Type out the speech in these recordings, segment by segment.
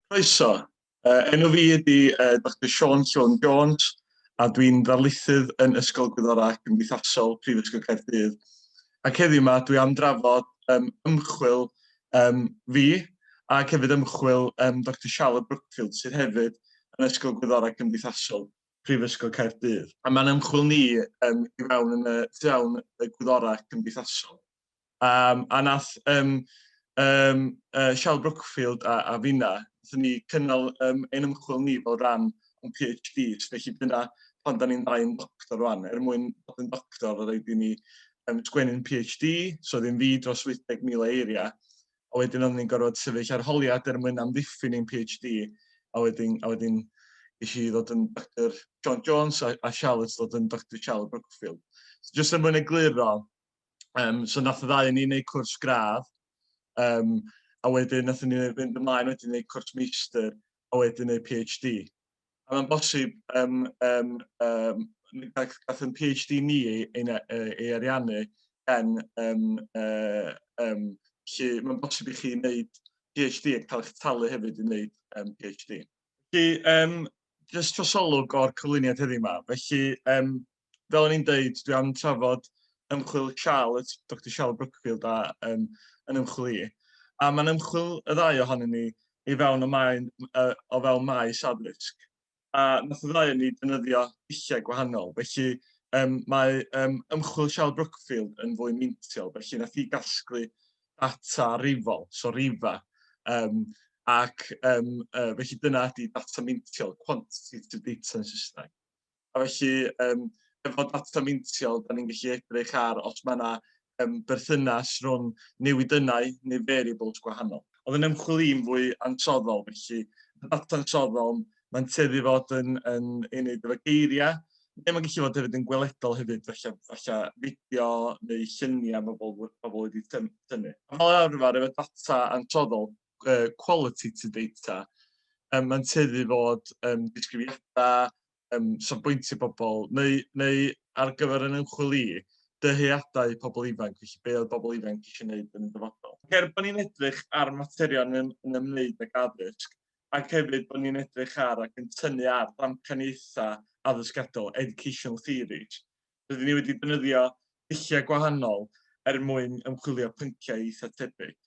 Croeso. Uh, enw fi ydy uh, Dr Sean Sean Jones a dwi'n ddarlithydd yn Ysgol Gwyddorau Cymdeithasol Prifysgol Caerdydd. Ac heddiw yma dwi am drafod um, ymchwil um, fi ac hefyd ymchwil um, Dr Charlotte Brookfield sydd hefyd yn Ysgol Gwyddorau Cymdeithasol. Prifysgol Caerdydd. A mae'n ymchwil ni um, i fewn yn y tu awn y gwyddorau cymdeithasol. Um, a nath um, um, uh, Shell Brookfield a, a finna, nath ni cynnal um, ein ymchwil ni fel rhan o'n PhD, felly dyna pan da ni'n ddau yn doctor rwan, er mwyn bod yn doctor, roedd rhaid i ni um, sgwennu'n PhD, so ddim fi dros 80,000 eiriau, a wedyn oedden ni'n gorfod sefyll arholiad er mwyn amddiffyn ein PhD, a wedyn, a wedyn eisiau i ddod yn Dr John Jones a, a Charlotte ddod yn Dr Charlotte Brookfield. So, just er mwyn egluro, um, so nath y ddau yn ni'n neud cwrs gradd, um, a wedyn nath ni'n fynd ymlaen wedyn neud cwrs meistr, a wedyn neud PhD. a mae'n bosib um, um, um, gath yn PhD ni ei, ei, ei ariannu gen um, uh, um, lle mae'n bosib i chi wneud PhD ac cael eich talu hefyd i wneud um, PhD. Felly, um, jyst trosolwg o'r cyflwyniad heddiw yma. Felly, um, fel o'n i'n deud, dwi am trafod ymchwil Charlotte, Dr Charlotte Brookfield a um, yn ymchwil i. A mae'n ymchwil y ddau ohonyn ni i fewn o, maen, uh, o fewn maes addysg. A nath y ddau o'n ni dynyddio dulliau gwahanol, felly um, mae um, ymchwil Charlotte Brookfield yn fwy meintiol, felly nath i gasglu data rifol, so rifa, um, ac um, uh, felly dyna ydy data meintiol, quantitative data yn Saesneg. A felly, um, efo data meintiol, da ni'n gallu edrych ar os mae yna um, berthynas rhwng newidynnau neu variables gwahanol. Oedd yn ymchwil i'n fwy ansoddol, felly y data ansoddol, mae'n teddu fod yn, yn ei wneud efo geiriau, neu mae'n gallu fod hefyd yn gweledol hefyd, felly, felly fideo neu lluniau mae bobl, bobl wedi tynnu. Fel arfer, efo data ansoddol, uh, quality to data. Um, mae'n teddu fod um, disgrifiadau, um, safbwyntio pobl, neu, neu ar gyfer yn ymchwil i, dyheadau pobl ifanc, felly be oedd pobl ifanc eisiau gwneud yn y dyfodol. Ger bod ni'n edrych ar materion yn, yn ymwneud ag addysg, ac hefyd bod ni'n edrych ar ac yn tynnu ar ddamcaniaethau addysgadol, educational theories, Rydyn ni wedi defnyddio dulliau gwahanol er mwyn ymchwilio pynciau eitha' tebyg.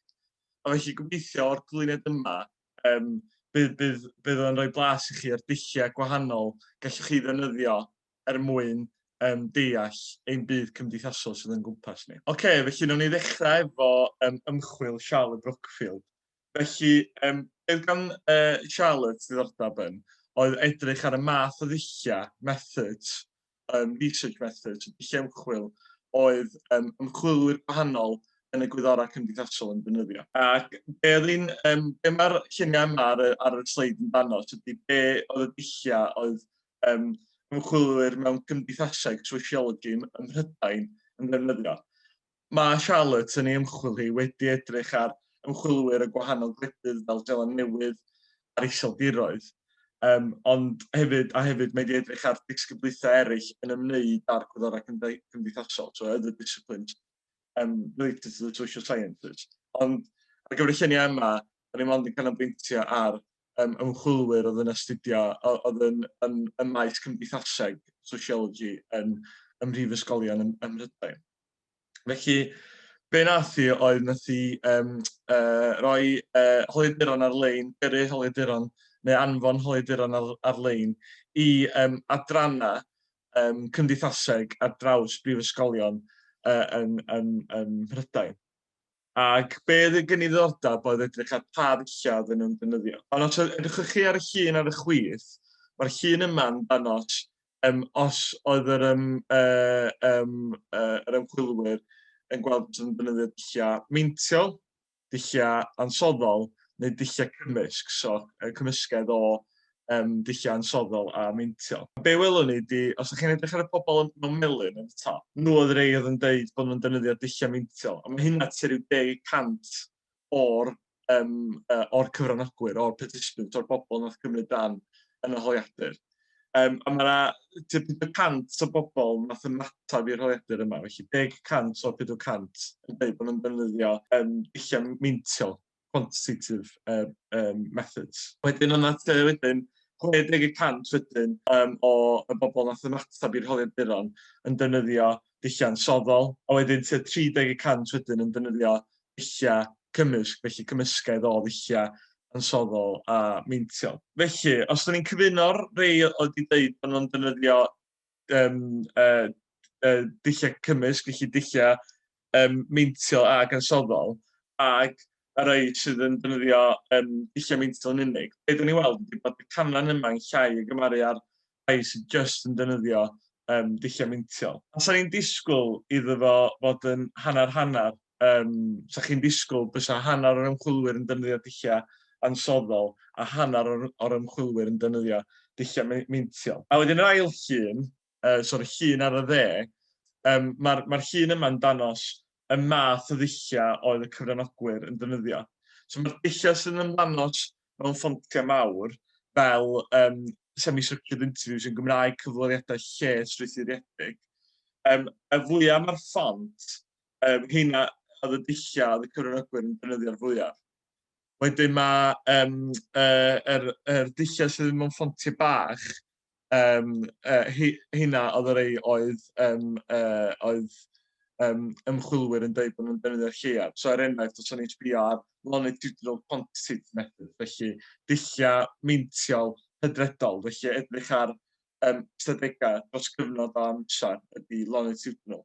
A felly gobeithio o'r cyflwyniad yma yym bydd bydd bydd o'n rhoi blas i chi o'r dulliau gwahanol gallwch chi ddefnyddio er mwyn um, deall ein byd cymdeithasol sydd o'n gwmpas ni. Oce, okay, felly nawn ni ddechrau efo um, ymchwil Charlotte Brookfield. Felly, um, beth gan uh, Charlotte ddiddordeb yn oedd edrych ar y math o ddulliau, methods, um, research methods, dulliau ymchwil, oedd um, ymchwilwyr gwahanol yn y gwyddorau cymdeithasol yn defnyddio. Ac be, un, um, be mae'r lluniau yma ar, ar y sleid yn dano, ydy be oedd y dulliau oedd um, ymchwilwyr mewn cymdeithaseg, sociology, ym Mhrydain yn defnyddio. Mae Charlotte yn ei ymchwil hi wedi edrych ar ymchwilwyr y gwahanol gwledydd fel Seland Newydd a'r Iseldiroedd, um, ond hefyd, a hefyd mae wedi edrych ar disgyblaethau eraill yn ymwneud â'r gwyddorau cymdeithasol, so other disciplines um, related to the social sciences. Ond ar gyfer y lluniau yma, da ni mond yn canolbwyntio ar um, ymchwilwyr oedd yn astudio, oedd yn, yn, yn maes cymdeithaseg, sociology, yn, ym mhrifysgolion ym, ym Mhrydain. Felly, be nath i oedd nath i um, uh, roi uh, holiaduron ar-lein, gyrru holiaduron neu anfon holiaduron ar-lein i um, adrannau um, cymdeithaseg ar draws brifysgolion uh, yn, yn, yn Mhrydain. Ac be oedd y gyniddordab oedd edrych ar pa ddulliau oedden nhw'n defnyddio. Ond os edrychwch chi ar y llun ar y chwith, mae'r llun yma yn dangos um, os oedd yr, um, uh, um, uh, yr ymchwilwyr yn gweld bod yn defnyddio dulliau meintiol, dulliau ansoddol neu dulliau cymysg, so uh, cymysgedd o um, dulliau ansoddol a meintio. Be welwn ni di, os ydych chi'n edrych ar y pobl yn mewn melyn yn y top, nhw oedd rei oedd yn dweud bod nhw'n defnyddio dulliau meintio, a mae hynna tua rhyw 10% o'r, um, uh, or cyfranogwyr, o'r participants, o'r bobl nath cymryd dan yn y holiadur. Um, a mae yna 40% o bobl nath ymateb i'r holiadur yma, felly 10% o'r 40% yn dweud bod nhw'n defnyddio um, dulliau meintio quantitative yym yym methods. Wedyn yn at yy wedyn, 60 y cant wedyn yym o y bobl wnaeth ymateb i'r holiaduron yn defnyddio dulliau ansoddol, a wedyn tua 30 y cant wedyn yn defnyddio dulliau cymysg, felly cymysgedd o ddulliau ansoddol a meintiol. Felly, os 'da ni'n cyfuno'r rhai oedd 'di deud bod nhw'n defnyddio yym yy yy dulliau cymysg, felly dulliau yym meintiol ac ansoddol, ac y rhai sydd yn defnyddio yym dulliau meintiol yn unig. Be dan ni'n weld ydy bod y canran yma yn llai o gymaru â'r rhai sydd jyst yn defnyddio um, dulliau meintiol. A sa'n ni'n disgwyl iddo fo fod yn hanner-hanner? um, sa chi'n disgwyl bysa hanner o'r ymchwilwyr yn defnyddio dulliau ansoddol a hanner o'r, or ymchwilwyr yn defnyddio dulliau meintiol. A wedyn yr ail llun, uh, so'r llun ar y dde, um, mae'r ma llun yma'n danos y math o ddulliau oedd y cyfranogwyr yn defnyddio. So mae'r dulliau sy'n ymlanos mewn ffontiau mawr fel um, semi-structured interviews yn Gymraeg cyflwyniadau lle strwythuriedig. Um, y fwyaf mae'r ffont Um, heina oedd y dulliau oedd y cyfranogwyr yn defnyddio'r fwyaf. Wedyn mae um, uh, er, er dulliau sydd ddim yn ffontiau bach, um, uh, hynna oedd yr ei oedd, um, uh, oedd um, ymchwilwyr yn dweud bod nhw'n defnyddio'r lleiaf. So er enghraifft, os o'n i'n sbio ar longitudinal quantitative method, felly dulliau meintiol hydredol, felly edrych ar um, ystadegau dros gyfnod o amser ydy longitudinal.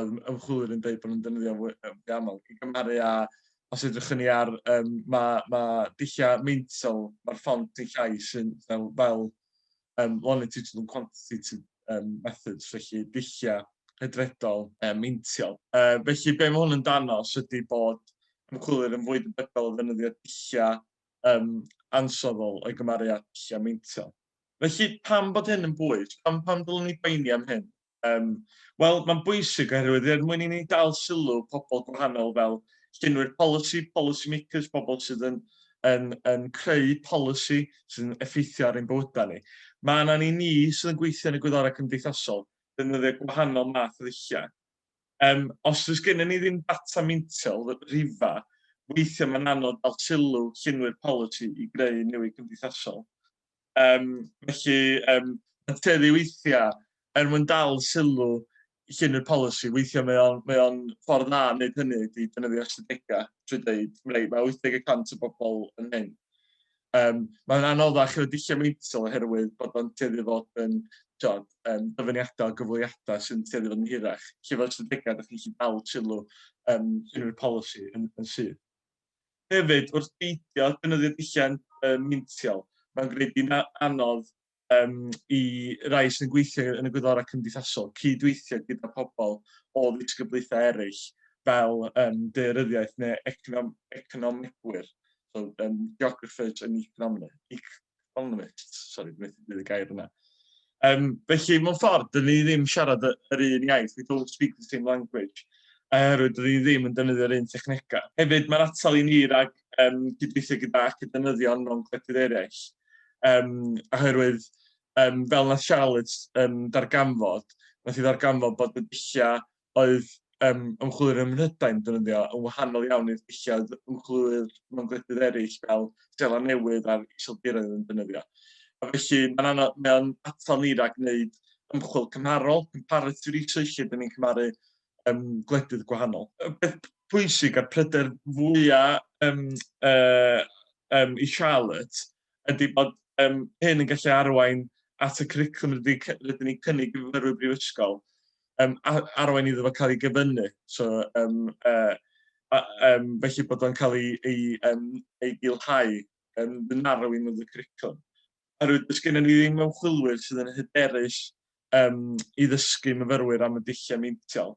oedd ymchwilwyr yn dweud bod nhw'n defnyddio fwy aml, i gymharu â, os edrych yn ni ar, um, mae ma dulliau meintiol, mae'r ffont dulliau sy'n fel, fel um, longitudinal and quantitative um, methods, felly dulliau hydredol um, meintiol. Uh, felly, be mae hwn yn danos ydy bod ymchwilwyr yn fwy debygol o ddefnyddio dulliau um, ansoddol o'i gymharu â dulliau meintiol. Felly, pam bod hyn yn bwys? Pam, pam dylwn ni boeni am hyn? Yym, wel, mae'n bwysig oherwydd er mwyn i ni dal sylw pobl gwahanol fel llunwyr polisi, policy makers, pobl sydd yn, yn, yn creu polisi sy'n effeithio ar ein bywydau ni. Mae yna ni ni sydd yn gweithio yn y gwyddorau cymdeithasol, defnyddio gwahanol math o ddulliau. Um, os oes gennym ni ddim data meintiol, rhifa, weithiau mae'n anodd dal sylw llunwyr polisi i greu newid cymdeithasol. Um, felly, um, yn teddi weithiau, er mwyn dal sylw llun y polisi, weithiau mae o'n, mae on ffordd dda yn gwneud hynny ydy dynyddio ystadegau trwy dweud, rei, mae 80% o bobl yn hyn. Um, mae'n anoddach o dulliau meintiol oherwydd bod o'n teddi fod yn tiod, um, dyfyniadau o gyfleiddiadau sy'n teddi fod yn hirach. Lle fel ystadegau, ydych chi'n gallu dal sylw um, unrhyw polisi yn, yn sydd. Hefyd, wrth beidio defnyddio dulliau um, mintiol, mae'n gwneud hi'n anodd um, i rai sy'n gweithio yn y gwyddorau cymdeithasol cydweithio gyda pobl o ddisgyblaethau eraill fel um, deiryddiaeth neu econom economegwyr, so, um, geographers and economists. Fel yna, sori, dwi'n methu dweud y gair yna. Um, felly, mewn ffordd, dyn ni ddim siarad yr un iaith, we don't speak the same language, oherwydd dyn ni ddim yn defnyddio'r un technegau. Hefyd, mae'r atal i ni rhag um, gydweithio gyda ac y defnyddion mewn gwledydd eraill, um, oherwydd, um, fel na Charlotte um, darganfod, nath i ddarganfod bod y dulliau oedd um, ymchwilwyr ym Mhrydain defnyddio yn wahanol iawn i'r dulliau ymchwilwyr mewn gwledydd eraill fel Stela Newydd a'r Iseldiroedd yn defnyddio. A felly mae'n anodd, mae'n atal ni rhag wneud ymchwil cymharol, comparative research, lle dyn ni'n cymaru um, gwledydd gwahanol. Y peth pwysig a'r pryder fwyaf um, uh, um, i Charlotte ydy bod yym hyn yn gallu arwain at y cwricwlwm rydyn ni rydyn ni'n cynnig i fyfyrwyr brifysgol, um, arwain iddo fo cael ei gyfynnu. So, um, uh, a, um, felly bod o'n cael ei, ei, um, ei gilhau yn um, narrowing of the curriculum. Oherwydd dys gennym ni ddim ymchwilwyr sydd yn hyderus um, i ddysgu myfyrwyr am y dulliau meintiol.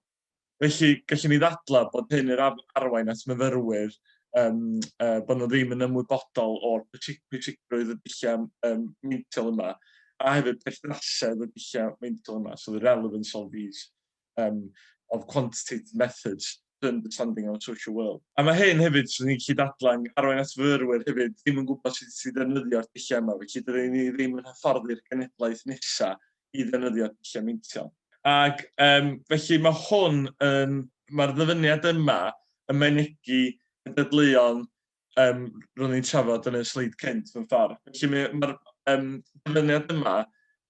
Felly, gallwn ni ddadlau bod hyn yn arwain at myfyrwyr um, uh, bod nhw ddim yn ymwybodol o'r pwysigrwydd y dulliau um, meintiol yma, a hefyd perthnasedd y dulliau meintiol yma, so the relevance of these um, of quantitative methods to understanding our social world. A mae hyn hefyd, sy'n ni'n gallu dadlan, arwain at fyrwyr hefyd, ddim yn gwybod sut i ddefnyddio'r dulliau yma, felly dydyn ni ddim yn hyfforddi'r genedlaeth nesaf i ddefnyddio dulliau meintiol. Ac um, felly mae hwn yn, mae'r ddyfyniad yma yn mynegi y dadleuon um, ro'n i'n trafod yn y sleid cynt mewn ffordd. Felly mae'r mae um, dyfyniad yma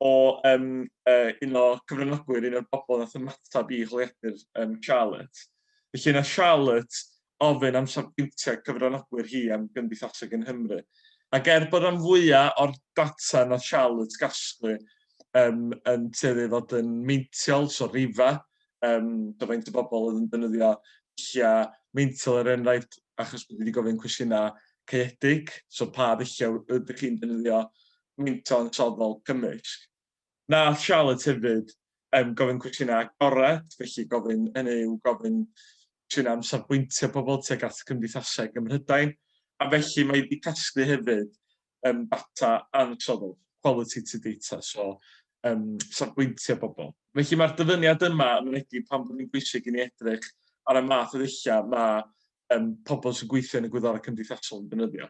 o um, uh, un o gyfranogwyr, un o'r bobl nath ymateb i holiadur um, Charlotte. Felly yna Charlotte ofyn am safbwyntiau cyfranogwyr hi am gymdeithaseg yn Nghymru. Ac er bod rhan fwyaf o'r data nath Charlotte gasglu um, yn tueddu i fod yn meintiol, so rifa, um, do faint o bobl oedd yn defnyddio dulliau meintiol er enghraifft, achos bod wedi gofyn cwestiynau caeedig, so pa ddulliau ydych chi'n defnyddio meintiol yn soddol cymysg. Wnaeth Charlotte hefyd um, gofyn cwestiynau agored, felly gofyn yn eu gofyn cwestiynau am safbwyntio pobl tuag at gymdeithaseg ym Mhrydain, a felly mae wedi casglu hefyd um, data ansoddol, qualitative data, so um, safbwyntio pobl. Felly mae'r dyfyniad yma yn mynegi pan bod yn bwysig i ni edrych ar y math o ddulliau mae um, pobl sy'n gweithio yn y gwyddorau cymdeithasol yn defnyddio.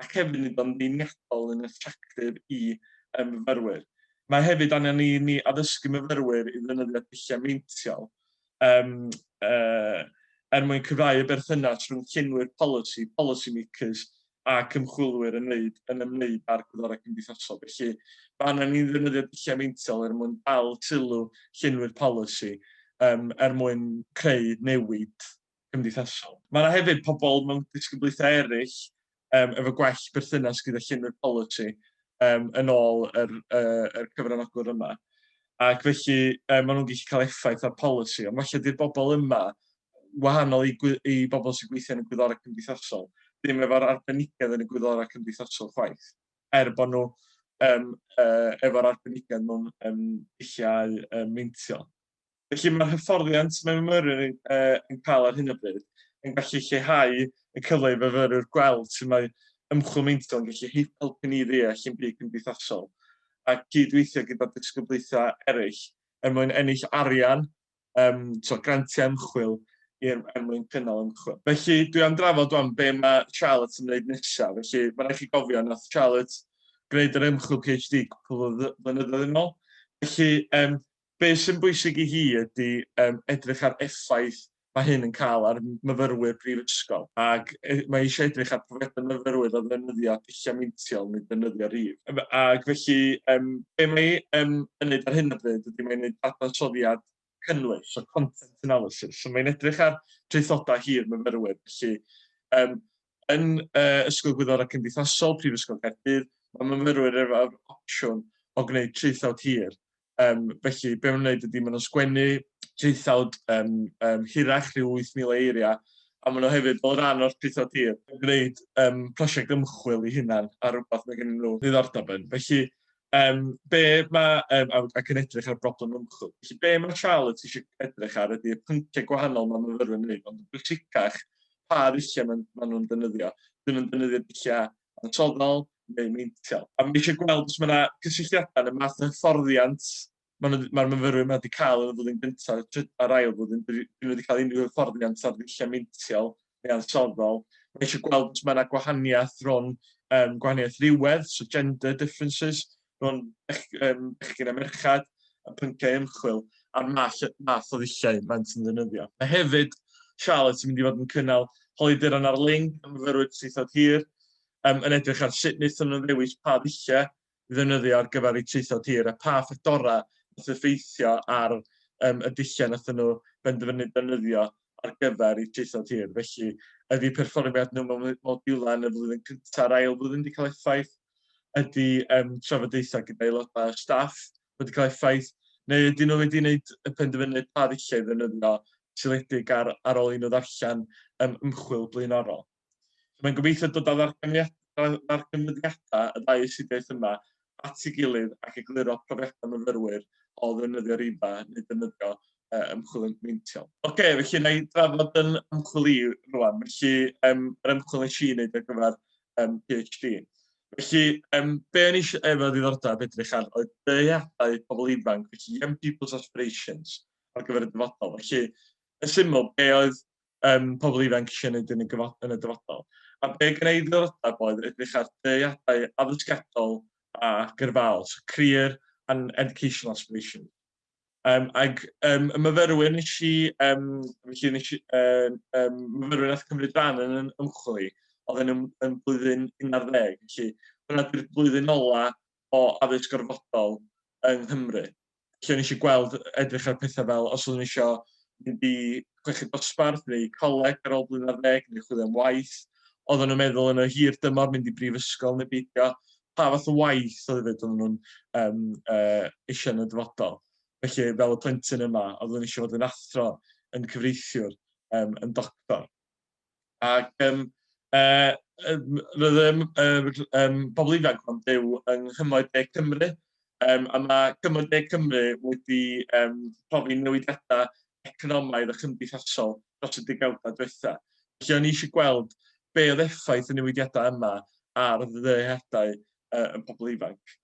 ac hefyd nid yn ddeniadol yn attractif i ein myfyrwyr. Mae hefyd angen i ni addysgu myfyrwyr i ddefnyddio dulliau meintiol um, uh, er mwyn cyfrau y berthynas rhwng llenwyr polisi, policy makers, ac ymchwilwyr yn wneud yn ymwneud â'r gwyddorau cymdeithasol. Felly, mae angen ni ddefnyddio dulliau meintiol er mwyn dal sylw llenwyr polisi, um, er mwyn creu newid cymdeithasol. Mae yna hefyd pobl mewn disgyblaethau eraill um, efo gwell berthynas gyda llunwyr polisi um, yn ôl yr, uh, yr cyfranogwr yma. Ac felly um, maen nhw'n gallu cael effaith ar polisi, ond felly dy'r bobl yma, wahanol i, i bobl sy'n gweithio yn y gwyddorau cymdeithasol, ddim efo'r arbenigedd yn y gwyddorau cymdeithasol chwaith, er bod nhw um, uh, efo'r arbenigedd mewn um, dulliau um, meintiol. Felly mae'r hyfforddiant mae myfyrwyr yn, uh, yn cael ar hyn o bryd yn gallu lleihau y cyfle i fyfyrwyr gweld sut mae ymchwil meintiol yn gallu helpu ni ddeall yn byd cymdeithasol a gydweithio gyda disgyblaethau eraill er mwyn ennill arian, um, so grantiau ymchwil i'r er mwyn cynnal ymchwil. Felly, dwi am drafod o'n be mae Charlotte yn gwneud nesaf. Felly, mae rhaid chi gofio, nath Charlotte gwneud yr ymchwil PhD cwpl o flynyddoedd yn ôl. Felly, um, Be' sy'n bwysig i hi ydi yym edrych ar effaith ma' hyn yn ca'l ar myfyrwyr brifysgol, ag e- mae eisiau edrych ar profiadau myfyrwyr o ddefnyddio dulliau meintiol, nid defnyddio rhif. Yym ag felly yym be' mae yym yn neud ar hyn o bryd ydi mae'n neud dadansoddiad cynnwys, so content analysis. So mae'n edrych ar traethodau hir myfyrwyr, felly yym yn yy Ysgol Gwyddorau Cymdeithasol, Prifysgol Caerdydd, mae myfyrwyr efo'r opsiwn o gwneud traethawd hir, Um, felly, be maen nhw'n gwneud ydy, maen nhw'n sgwennu traethawd um, um, hirach rhyw 8,000 eiriau, a maen nhw hefyd fel rhan o'r traethawd hir yn gwneud um, prosiect ymchwil i hunan ar rhywbeth mae gen nhw ddiddordeb yn. Felly, um, be mae, um, ac yn edrych ar broblem ymchwil, felly be mae Charlotte eisiau edrych ar ydy y pynciau gwahanol mae myfyrwyr yn gwneud, ond yn bwysicach pa ddulliau maen, maen nhw'n defnyddio. Dyn nhw'n defnyddio dulliau ansoddol neu meintiol. A mae eisiau gweld os mae yna gysylltiadau yn y math o hyfforddiant mae nhw, mae'r myfyrwyr yma wedi cael yn y flwyddyn gyntaf trwy- a'r ail flwyddyn, dyn nhw wedi cael unrhyw hyfforddiant ar ddulliau meintiol neu ansoddol. Mae eisiau gweld os mae yna gwahaniaeth rhwng um, gwahaniaeth rhywedd, so gender differences, rhwng bechgyn a merched, y pynciau ymchwil a'r math o ddulliau maent yn ddefnyddio. Mae hefyd Charlotte yn mynd i fod yn cynnal holiaduron ar-lein am fyfyrwyr traethawd hir, yn edrych ar sut wnaethon nhw ddewis pa ddulliau i ddefnyddio ar gyfer eu traethawd hir a pha ffactorau wnaeth effeithio ar y dulliau wnaethon nhw benderfynu defnyddio ar gyfer y traethau tir. Felly, ydy perfformiad nhw mewn modiwlau yn y flwyddyn cyntaf a'r ail flwyddyn wedi cael effaith? Ydy um, trafodaethau gyda aelodau o staff wedi cael effaith? Neu ydy nhw wedi gwneud y penderfyniad pa ddulliau ddefnyddio seledig ar, ar ôl i nhw ddarllen um, ymchwil blaenorol? So mae'n gobeithio dod â ddarganfyddiadau y ddau astudiaeth yma at ei gilydd ac egluro profiadau myfyrwyr o ddefnyddio rhiba neu defnyddio uh, ymchwil yn meintiol. Oce, okay, felly na i drafod yn ymchwil i rwan. Felly, um, yr ymchwil nes i wneud ar gyfer um, PhD. Felly, um, be o'n eisiau efo ddiddordeb edrych ar oedd dyheadau pobl ifanc, felly Young People's Aspirations ar gyfer y dyfodol. Felly, yn syml, be oedd um, pobl ifanc eisiau gwneud yn y, yn y dyfodol. A be gen i ddylodeb oedd edrych ar deiadau addysgiadol a gyrfaol, so career and educational aspiration. Um, ag um, y myfyrwyr nes i, um, felly nes i, um, um, myfyrwyr nath cymryd rhan yn yn ymchwil i, oedd yn, yn blwyddyn 11, felly hwnna di'r blwyddyn ola o addysg gorfodol yng Nghymru. lle nes i gweld, edrych ar pethau fel os oeddwn eisiau mynd i chweched dosbarth neu coleg ar ôl blwyddyn ar ddeg neu chwilio am waith. Oedden nhw'n meddwl yn y hir dymor mynd i brifysgol neu beidio. Pa fath o waith oedd hefyd oedden nhw'n um, uh, eisiau yn y dyfodol. Felly, fel y plentyn yma, oeddwn eisiau fod yn athro, yn cyfreithiwr, um, yn doctor. Ac yym, yy, yym, roedd yym yr yym pobl ifanc ma'n byw yng Nghymoedd De Cymru, yym, a mae Cymoedd De Cymru wedi yym profi newidiadau economaidd a chymdeithasol dros y degawdau diwetha'. Felly o'n i eisiau gweld be oedd effaith y newidiadau yma ar ddyheadau yy y pobl ifanc.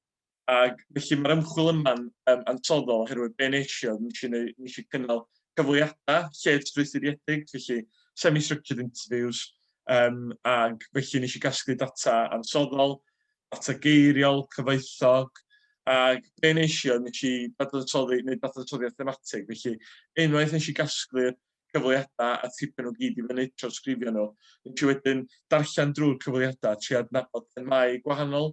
Ac felly mae'r ymchwil yma'n um, ansoddol oherwydd be nes i oedd nes i, neu, nes i cynnal cyfleadau lled strwythuriedig, felly semi-structured interviews, um, ac felly nes i gasglu data ansoddol, data geiriol, cyfoethog, ac be nes i oedd nes i dadansoddi, neu dadansoddiad thematig, felly unwaith nes i gasglu'r cyfleadau a tipyn o gyd i fyny tro sgrifio nhw, nes i wedyn darllen drwy'r cyfleadau tri adnabod themau gwahanol,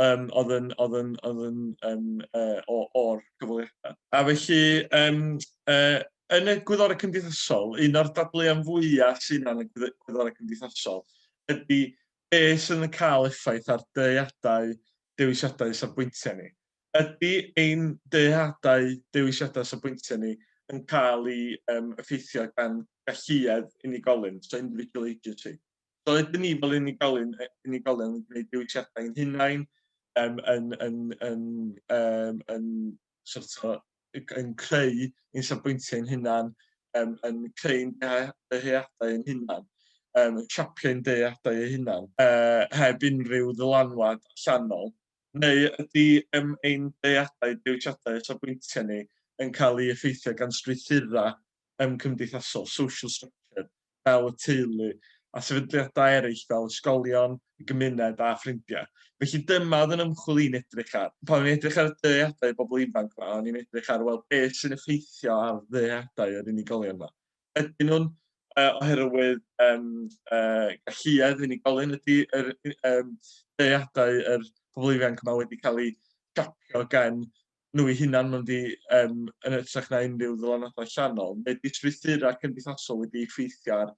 um, oedd yn, oedd yn, oedd yn, yn uh, o, o'r cyfweliadau. A felly, um, uh, yn y gwyddorau cymdeithasol, un o'r dadleuon fwyaf sy'n yn y gwyddorau cymdeithasol ydy beth sy'n cael effaith ar deiadau, dewisiadau safbwyntiau ni. Ydy ein deiadau, dewisiadau safbwyntiau ni yn cael ei um, effeithio gan galluedd unigolyn, so individual agency. Doedd ni fel unigolyn, unigolion yn gwneud dewisiadau yn hunain, um, yn, yn, yn, um, yn, sort o, yn creu ein safbwyntiau ein hunan, um, yn creu ein dyheadau ein hunan, um, yn siapio ein dyheadau ein hunan, uh, heb unrhyw ddylanwad allanol. Neu ydy um, ein dyheadau, dewisiadau a safbwyntiau ni yn cael ei effeithio gan strwythurau um, cymdeithasol, social structure, fel y teulu, a sefydliadau eraill fel ysgolion, y gymuned a ffrindiau. Felly dyma oedd yn ymchwil i'n edrych ar. Pan o'n i'n edrych ar y dyheadau y bobl ifanc yma, o'n i'n edrych ar wel, beth sy'n effeithio ar ddyheadau yr unigolion yma. Ydyn nhw'n uh, oherwydd um, uh, galluedd unigolyn ydy yr, um, ddeadau yr pobl ifanc yma wedi cael eu siapio gan nhw eu hunain mewn du um, yn ytrach na unrhyw ddylanwadau allanol. Mae disfriithura cymdeithasol wedi effeithio ar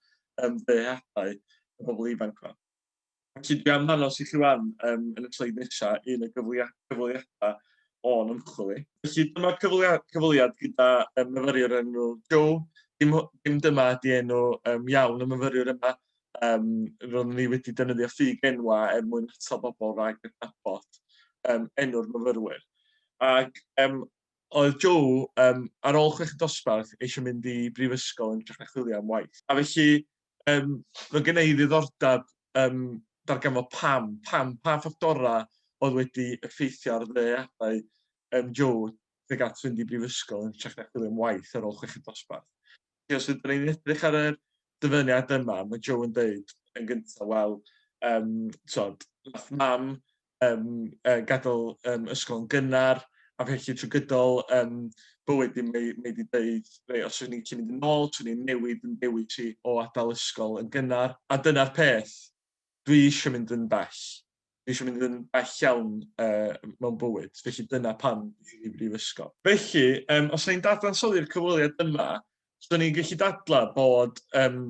um, ddyheadau y bobl ifanc yma. Felly dwi am ddanos i chi wan um, yn y sleid nesaf un o gyfweliadau o'n ymchwil i. Felly dyma cyfweliad gyda um, myfyriwr enw Joe. Dim, dim dyma ydi enw um, iawn y myfyriwr yma, Yym, roeddwn i wedi defnyddio ffug enwau er mwyn atal bobl rhag adnabod um, enw'r myfyrwyr. Ac um, oedd Joe, um, ar ôl chwech dosbarth, eisiau mynd i brifysgol yn hytrach na chwilio am waith. A felly, um, mae gen i ddiddordeb um, darganfod pam, pam, pa ffactorau oedd wedi effeithio ar ddeadau um, Joe tuag at fynd i brifysgol yn hytrach na chwilio am waith ar ôl chwech dosbarth. Os ydyn ni'n edrych ar y dyfyniad yma, mae Joe yn dweud yn gyntaf, wel, um, tod, nath mam um, uh, gadael um, ysgol yn gynnar, a felly trwy gydol um, bywyd i mae wedi dweud, rei, os ydyn ni'n gallu mynd yn ôl, swn ni'n newid yn dewis i o adael ysgol yn gynnar. A dyna'r peth, dwi eisiau mynd yn bell. Dwi eisiau mynd yn bell iawn uh, mewn bywyd, felly dyna pan dwi'n i brifysgol. Felly, um, os ni'n dadansoddi'r cyfweliad yma, so ni'n gallu dadlau bod um,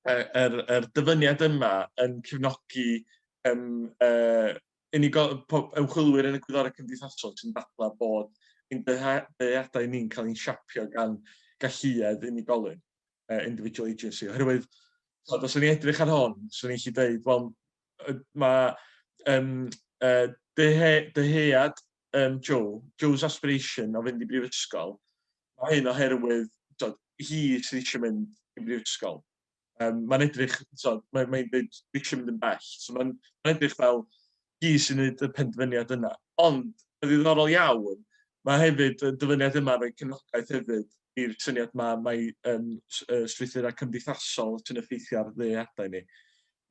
yr, er, er dyfyniad yma yn cefnogi um, uh, unigol, ymchwilwyr yn y gwyddorau cymdeithasol sy'n dadlau bod ein dyheadau ni'n cael ein siapio gan galluedd unigolyn. uh, individual agency, oherwydd, so, os o'n i'n edrych ar hon, swn i'n lli dweud, wel, mae um, uh, dyhead um, Joe, Joe's aspiration o fynd i brifysgol, mae hyn oherwydd, so, hi sydd eisiau mynd i brifysgol. Um, mae'n edrych, so, mae'n mae dweud, eisiau mynd yn bell. So, mae'n mae edrych fel, hi sy'n gwneud y penderfyniad yna. Ond, yn ddiddorol iawn, mae hefyd y dyfyniad yma'n rhoi cefnogaeth hefyd i'r syniad yma mae um, strwythurau cymdeithasol sy'n effeithio ar ddeadau ni.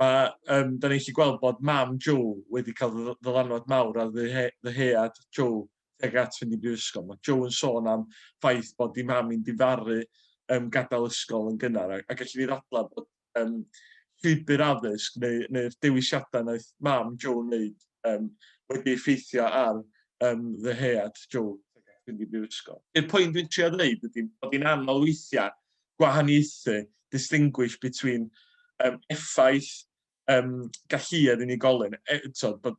Mae, um, da ni'n chi gweld bod mam Joe wedi cael ddylanwad mawr ar ddyhead Joe tuag at fynd i brifysgol. Mae Joe yn sôn am ffaith bod di mam i'n difaru um, gadael ysgol yn gynnar, a, a gallu ni ddadlau bod yym, llwybr addysg neu, neu'r dewisiadau wnaeth mam Joe wneud um, wedi effeithio ar um, ddyhead Joe fynd i brifysgol. I'r pwynt dwi'n trio dweud ydy bod hi'n anodd weithiau gwahaniaethu, distinguish between um, effaith um, galluedd unigolyn, e, tod, bod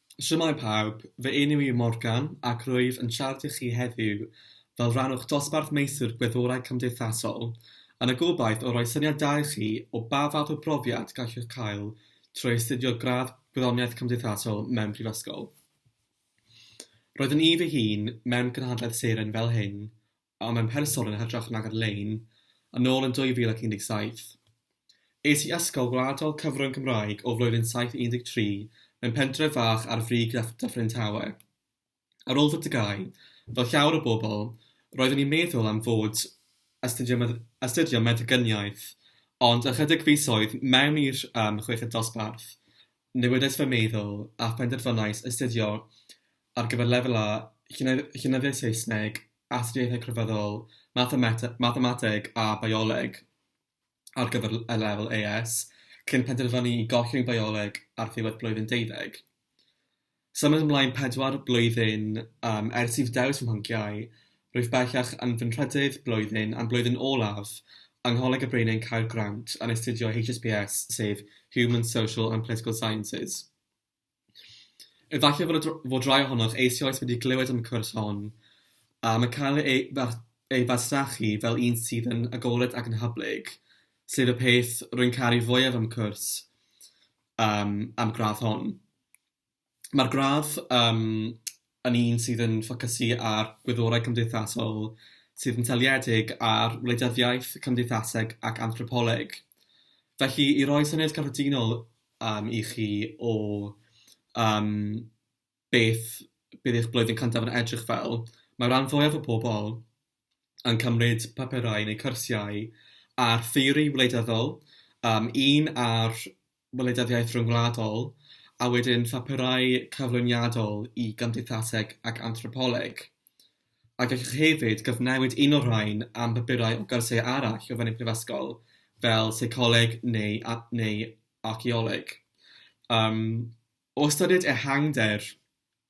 Shwmae pawb, fy enw i yw Morgan ac rwyf yn siarad i chi heddiw fel rhan o'ch dosbarth Meistr Gwyddorau Cymdeithasol, yn y gobaith o roi syniad da i chi o ba fath o brofiad gallwch cael trwy astudio gradd Gwyddoniaeth Cymdeithasol mewn prifysgol. Roeddwn i fy hun mewn cynhadledd seren fel hyn a mewn person yn hytrach nag ar-lein, yn ôl yn 2017. Es i Ysgol Gwladol Cyfrwng Cymraeg o flwyddyn 7 i 13 mewn pentref fach ar frig Dyffryn Tawe. Ar ôl fy TGAU, fel llawer o bobl, roeddwn i'n meddwl am fod astudio Meddyginiaeth, ond ychydig fisoedd mewn i'r chweched dosbarth, Newidais fy meddwl a phenderfynais astudio ar gyfer Lefel A, Llenyddiaeth Saesneg, Astudiaethau Crefyddol, Mathemateg a Bioleg ar gyfer y Lefel AS, cyn penderfynu i gollwng Bioleg ar ddiwedd blwyddyn deuddeg. Symud ymlaen pedwar blwyddyn um, ers i fy dewis fy mhanciau, rwyf bellach yn fy nhrydydd blwyddyn a'n blwyddyn olaf yng Ngholeg y Breinau'n cael grant yn astudio HSPS, sef Human, Social and Political Sciences. Efallai fod, fod rai ohonoch eisioes wedi clywed am y cwrs hon, a mae cael ei, ei fasnachu fel un sydd yn agored ac yn hyblyg, sef y peth rwy'n caru fwyaf am y cwrs um, am gradd hon. Mae'r gradd yym yn un sydd yn ffocysu ar gwyddorau cymdeithasol sydd yn seiliedig ar wleidyddiaeth, cymdeithaseg ac anthropoleg. Felly, i roi syniad cyffredinol yym i chi o yym beth bydd eich blwyddyn cyntaf yn edrych fel, mae'r ran fwyaf o bobl yn cymryd papurau neu cyrsiau ar theori wleidyddol, yym un ar wleidyddiaeth ryngwladol, a wedyn phapurau cyflwyniadol i gymdeithaseg ac anthropoleg. A gallwch hefyd gyfnewid un o'r rhain am bapurau o gyrsiau arall o fewn y Prifysgol, fel seicoleg neu a- neu archaeoleg. Yym, o ystyried ehangder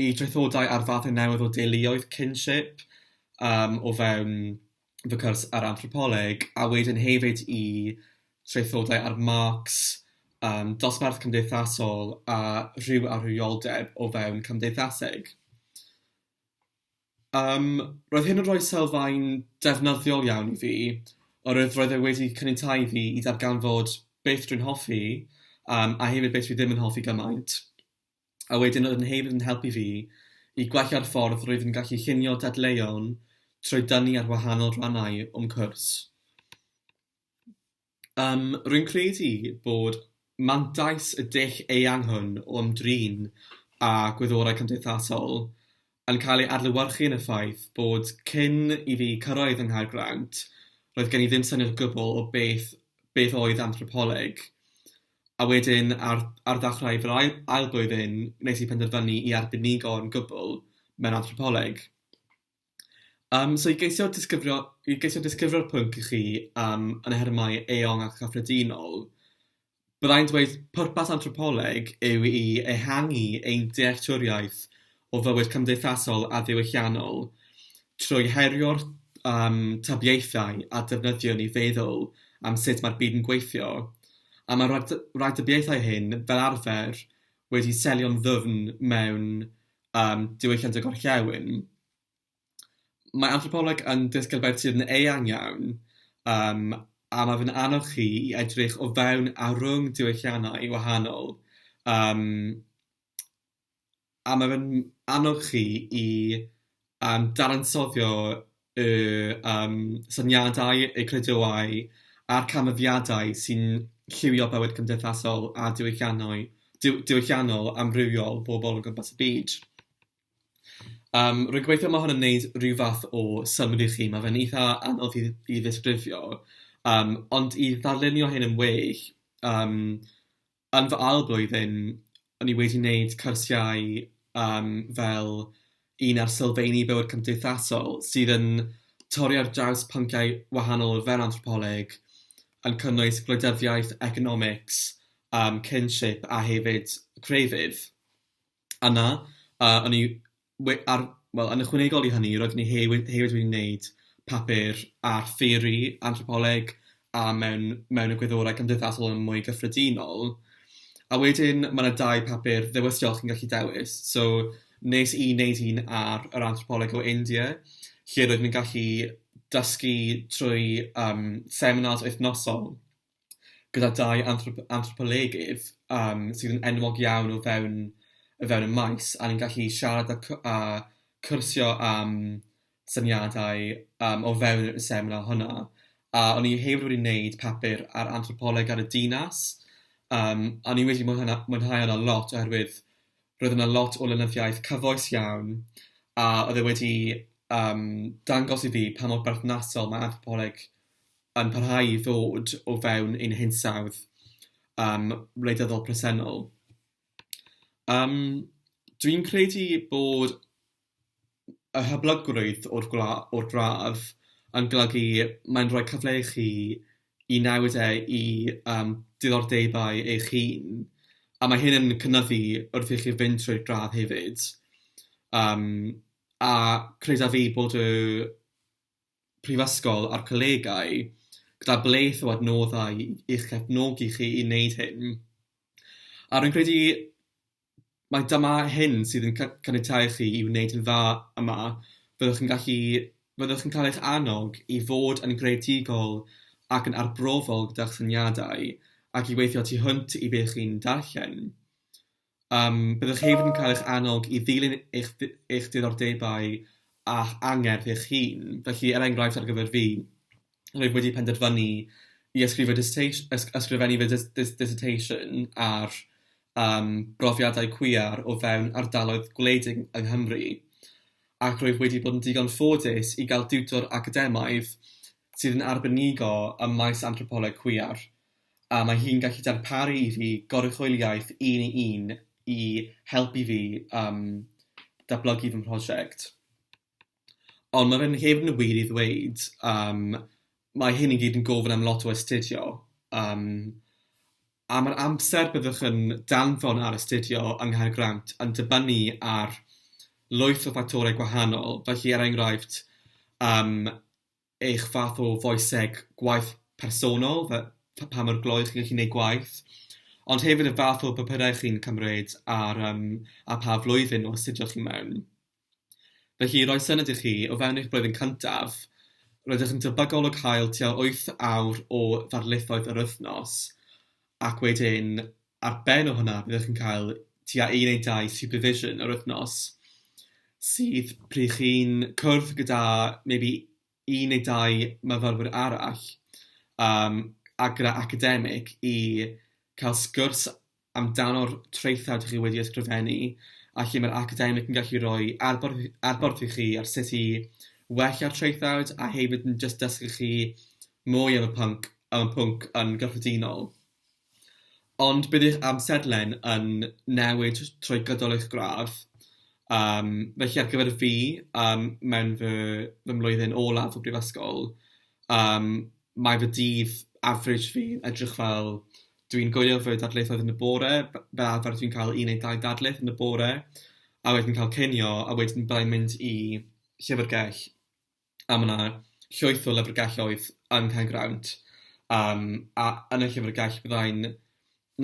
i draethodau ar fathau newydd o deuluoedd, kinship, yym o fewn fy cwrs ar anthropoleg, a wedyn hefyd i traethodau ar Marx, yym dosbarth cymdeithasol a rhyw amhriodeb o fewn cymdeithaseg. Yym roedd hyn yn rhoi sylfaen defnyddiol iawn i fi, oherwydd roedd e wedi caniatáu i fi i ddarganfod beth rwy'n hoffi, yym a hefyd beth rwy ddim yn hoffi gymaint. a wedyn oedd fy nheulu yn helpu fi i gwella'r ffordd rwyf yn gallu llunio dadleuon trwy dynnu ar wahanol rannau o'm cwrs. Yym, rwy'n credu bod mantais y dull eang hwn o ymdrin â gwyddorau cymdeithasol yn cael ei adlewyrchu yn y ffaith bod cyn i fi cyrraedd yng Nghaergrawnt, roedd gen i ddim syniad o gwbl o beth beth oedd anthropoleg. A wedyn, ar ar ddechrau fy ail ail blwyddyn, wnes i penderfynu i arbenigo'n gwbl mewn anthropoleg. Yym, so i geisio disgrifio i geisio disgrifio'r pwnc i chi yym yn nhermau eang a chyffredinol, Byddai'n dweud pwrpas anthropoleg yw i ehangu ein dealltwriaeth o fywyd cymdeithasol a diwylliannol trwy herio'r um, tybiaethau a defnyddiwn i feddwl am sut mae'r byd yn gweithio, a mae'r rhag rhagdybiaethau hyn fel arfer wedi selio'n ddwfn mewn um, diwylliant y gorllewin. Mae anthropoleg yn ddisgyblaeth sydd yn eang iawn, yym, a mae fe'n annog chi i edrych o fewn a rhwng diwylliannau wahanol, yym, a mae fe'n annog chi i, yym, dadansoddi y, yym, syniadau, y credoau a'r canfyddiadau sy'n lliwio bywyd cymdeithasol a diwylliannau- diw- diwylliannol amrywiol pobl o gwmpas y byd. Yym, rwy'n gobeithio mae hwn yn wneud rhyw fath o synnwyr i chi. Mae fe'n eitha anodd i i ddisgrifio, yym, ond i ddarlunio hyn yn well, yym, yn fy ail flwyddyn, o'n i wedi wneud cyrsiau, yym, fel un ar sylfeini bywyd cymdeithasol, sydd yn torri ar draws pynciau wahanol fel anthropoleg, yn cynnwys gwleidyddiaeth, economics, yym, kinship a hefyd crefydd. yna, a o'n i we- ar... wel, yn ychwanegol i hynny, roeddwn i he- we- hefyd wedi wneud papur ar theori anthropoleg a mewn mewn egwyddorau cymdeithasol yn mwy gyffredinol. A wedyn, ma' 'na dau papur ddewisol chi'n gallu dewis. So, wnes i wneud un ar yr anthropoleg o India, lle roeddwn i'n gallu dysgu trwy, yym, seminars wythnosol. gyda dau anthrop- anthropolegydd yym sydd yn enwog iawn o fewn o fewn y maes, a ni'n gallu siarad a cw- a cwrsio am syniadau yym o fewn y seminar hwnna. A o'n i hefyd wedi wneud papur ar anthropoleg ar y dinas, yym a o'n i wedi mwynhau mwynhau hwnna lot oherwydd roedd yna lot o lenyddiaeth cyfoes iawn, a oedd e wedi yym dangos i fi pa mor berthnasol mae anthropoleg yn parhau i ddod o fewn ein hinsawdd um, wleidyddol presennol. Um, Dwi'n credu bod y hyblygrwydd o'r, gla, o'r gradd yn golygu mae'n rhoi cyfle i chi i newid e i um, diddordebau eich hun, a mae hyn yn cynnyddu wrth i chi fynd trwy'r gradd hefyd. Um, a credaf fi bod y Prifysgol a'r colegau gyda bleth o adnoddau i'ch cefnogi chi i wneud hyn. A rwy'n credu mai dyma hyn sydd yn caniatáu i chi i wneud yn dda yma, byddwch yn gallu... byddwch yn cael eich annog i fod yn greadigol ac yn arbrofol gyda'ch syniadau ac i weithio tu hwnt i be chi'n darllen. Yym, byddwch hefyd yn cael eich annog i ddilyn eich eich diddordebau a'ch angerdd eich hun. Felly, er enghraifft, ar gyfer fi, rwyf wedi penderfynu i ysgrifo dissertation, ysg- ysgrifennu fy dis- dis- dissertation ar yym brofiadau cwiar o fewn ardaloedd gwledig yng Nghymru, ac rwyf wedi bod yn ddigon ffodus i gael diwtor academaidd sydd yn arbenigo ym maes anthropoleg cwiar. a mae hi'n gallu darparu i fi goruchwyliaeth un i un i helpu fi yym datblygu fy mhrosiect. Ond mae fe'n hefyd yn wir i ddweud yym mae hyn i gyd yn gofyn am lot o astudio yym a ma'r amser byddwch yn danfon ar astudio yng Nghaergrawnt yn dibynnu ar lwyth o ffactorau gwahanol, felly er enghraifft yym eich fath o foeseg gwaith personol, fe- pa mor glou chi'n gallu gwneud gwaith, ond hefyd y fath o bapurau chi'n cymryd a'r yym a pha flwyddyn o astudio chi mewn. Felly, i roi syniad i chi, o fewn eich blwyddyn cyntaf, rydych yn debygol o cael tua wyth awr o ddarlithoedd yr wythnos, ac wedyn ar ben o hwnna byddwch chi'n cael tua un neu dau supervision yr wythnos sydd pryd chi'n cwrdd gyda maybe un neu dau myfyrwyr arall um, a gyda academic i cael sgwrs amdano'r traethau dych chi wedi ysgrifennu a lle mae'r academic yn gallu rhoi adborth, adborth i chi ar sut i wella'r traethau a hefyd yn just dysgu chi mwy am y pwnc, am y pwnc yn gyffredinol. Ond bydd eich amserlen yn newid trwy gydol eich gradd, yym, felly ar gyfer fi, yym, mewn fy fy mlwyddyn olaf o brifysgol, yym, mae fy dydd average fi yn edrych fel, dwi'n gwylio fy darlithoedd yn y bore, f- fel arfer dwi'n cael un neu dau ddarlith yn y bore, a wedyn cael cinio, a wedyn byddai'n mynd i llyfrgell. a ma' 'na llwyth o lyfrgelloedd yn Cae Grawnt, yym a yn y llyfrgell fyddai'n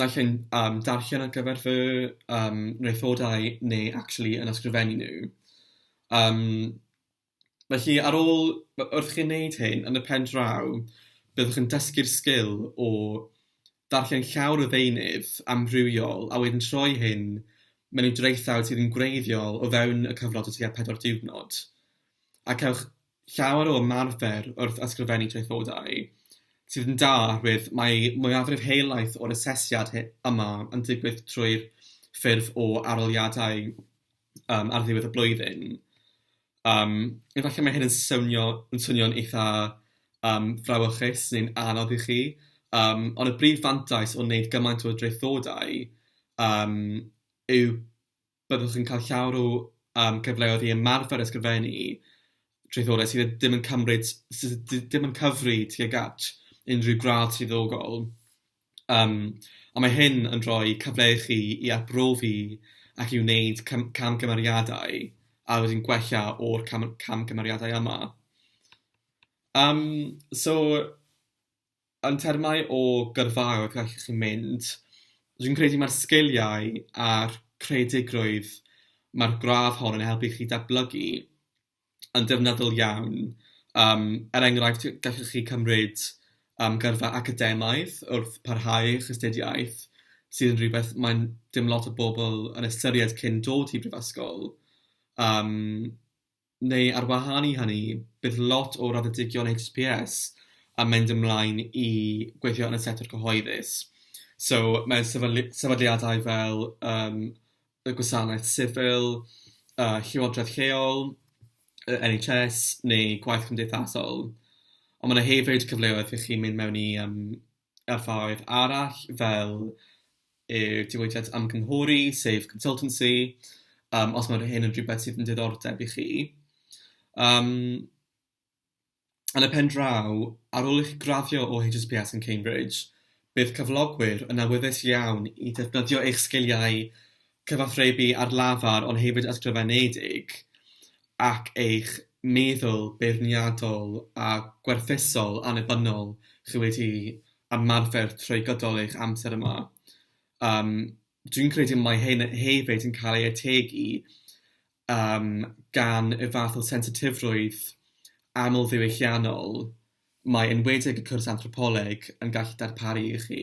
naill ai'n yym darllen ar gyfer fy yym mraethodau neu actually yn ysgrifennu nhw. Yym felly ar ôl... w- wrth i chi wneud hyn, yn y pen draw, byddwch yn dysgu'r sgil o ddarllen llawr o ddeunydd amrywiol a wedyn troi hyn mewn i draethawd sydd yn gwreiddiol o fewn y cyfnod o tua pedwar diwrnod. a cewch llawer o ymarfer wrth ysgrifennu traethodau, sydd yn da oherwydd mae mwyafrif helaeth o'r asesiad yma yn digwydd trwy'r ffurf o arholiadau um, ar ddiwedd y blwyddyn. Um, efallai mae hyn yn swnio yn swnio'n eitha um, frawychus neu'n anodd i chi, um, ond y brif fantais o wneud gymaint o draethodau um, yw byddwch yn cael llawer o yym gyfleoedd i ymarfer ysgrifennu traethodau sydd ddim yn cymryd sydd d- ddim yn cyfri tuag at unrhyw gradd swyddogol. Yym, ond mae hyn yn rhoi cyfle i chi i arbrofi ac i wneud cam- camgymeriadau a wedyn gwella o'r cam- camgymeriadau yma. Yym, so... Yn termau o gyrfaoedd gallwch chi mynd, dwi'n credu mae'r sgiliau a'r creadigrwydd mae'r gradd hon yn helpu chi datblygu yn ddefnyddiol iawn. Yym, er enghraifft, gallwch chi cymryd yym gyrfa academaidd wrth parhau eich astudiaeth, sydd yn rhywbeth mae'n... dim lot o bobl yn ystyried cyn dod i brifysgol, yym. Neu ar wahân i hynny, bydd lot o raddedigion HSPS yn mynd ymlaen i gweithio yn y sector cyhoeddus. So, mae sefydlu- sefydliadau fel yym y gwasanaeth sifil, y llywodraeth lleol, y NHS neu gwaith cymdeithasol. Ond mae 'na hefyd cyfleoedd i chi mynd mewn i yym y ffordd arall fel y diwydiant ymgynghori, sef consultancy, um, os mae'r hyn yn rhywbeth sydd yn diddordeb i chi. Um, yn y pen draw, ar ôl i chi graddio o HSPS yn Cambridge, bydd cyflogwyr yn awyddus iawn i ddefnyddio eich sgiliau cyfathrebu ar lafar ond hefyd ysgrifenedig, ac eich meddwl beirniadol a gwerthuso'l annibynnol chi wedi ymarfer trwy gydol eich amser yma. Yym, dwi'n credu mai hyn hefyd yn cael ei ategu yym gan y fath o sensitifrwydd amlddiwylliannol mae enwedig y cwrs Anthropoleg yn gallu darparu i chi.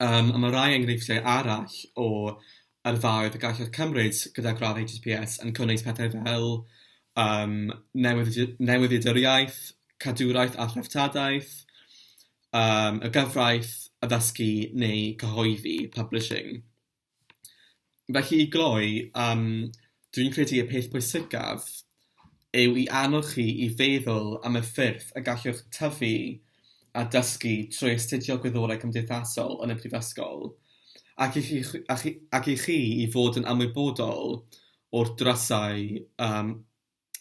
Yym a mae rhai enghreifftiau arall o yrfaoedd y gallech cymryd gyda gradd HSPS yn cynnwys pethau fel yym newyddion- newyddiaduriaeth, cadwraeth a threftadaeth, yym y gyfraith, addysgu neu cyhoeddi, publishing. Felly i gloi, yym, dwi'n credu y peth pwysicaf yw i annog chi i feddwl am y ffyrdd y gallwch tyfu a dysgu trwy astudio Gwyddorau Cymdeithasol yn y Prifysgol, ac i chi ac i ac i chi i fod yn ymwybodol o'r drysau yym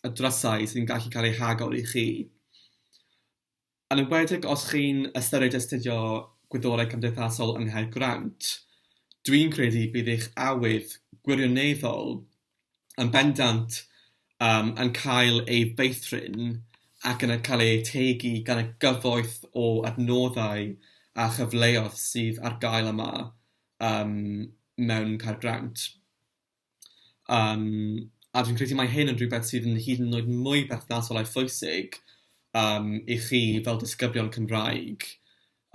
y drysau sy'n gallu cael eu hagor i chi. Yn enwedig os chi'n ystyried astudio Gwyddorau Cymdeithasol yng Nghaergrawnt, dwi'n credu bydd eich awydd gwirioneddol yn bendant yym yn cael ei feithrin ac yn cael ei ategu gan y gyfoeth o adnoddau a chyfleoedd sydd ar gael yma yym mewn Caergrawnt. Yym, a dwi'n credu mai hyn yn rhywbeth sydd yn hyd yn oed mwy perthnasol a phwysig yym i chi fel disgyblion Cymraeg.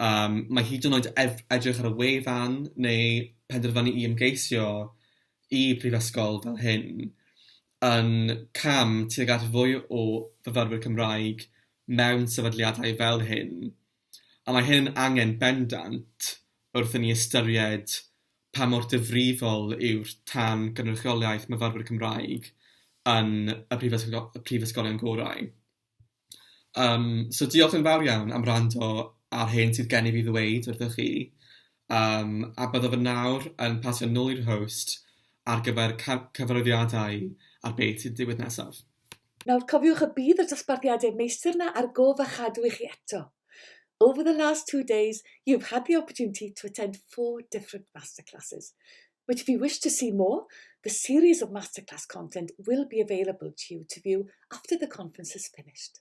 Yym, mae hyd yn oed ef- edrych ar y wefan neu penderfynu i ymgeisio i prifysgol fel hyn yn cam tuag at fwy o fyfyrwyr Cymraeg mewn sefydliadau fel hyn. a mae hyn yn angen bendant wrth i ni ystyried pa mor ddifrifol yw'r tan gynrychiolaeth myfyrwyr Cymraeg yn y prifysgol- prifysgolion gorau. Yym, so diolch yn fawr iawn am wrando ar hyn sydd gen i fi ddweud wrthych chi. Yym, a byddaf yn nawr yn pasio nôl i'r host ar gyfer cy- cyfarwyddiadau ar beth sy'n digwydd nesaf. Nawr, cofiwch y bydd y dosbarthiadau meistr 'na ar gof a chadw i chi eto. Over the last two days, you've had the opportunity to attend four different masterclasses. Which if you wish to see more, the series of masterclass content will be available to you to view after the conference has finished.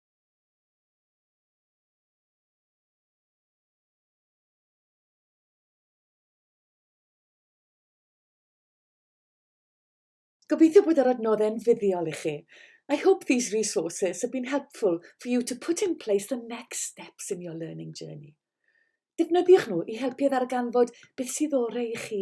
Gobeithio bod yr adnoddau yn fuddiol i chi. I hope these resources have been helpful for you to put in place the next steps in your learning journey. Defnyddiwch nhw i helpu i ddarganfod beth sydd orau i chi.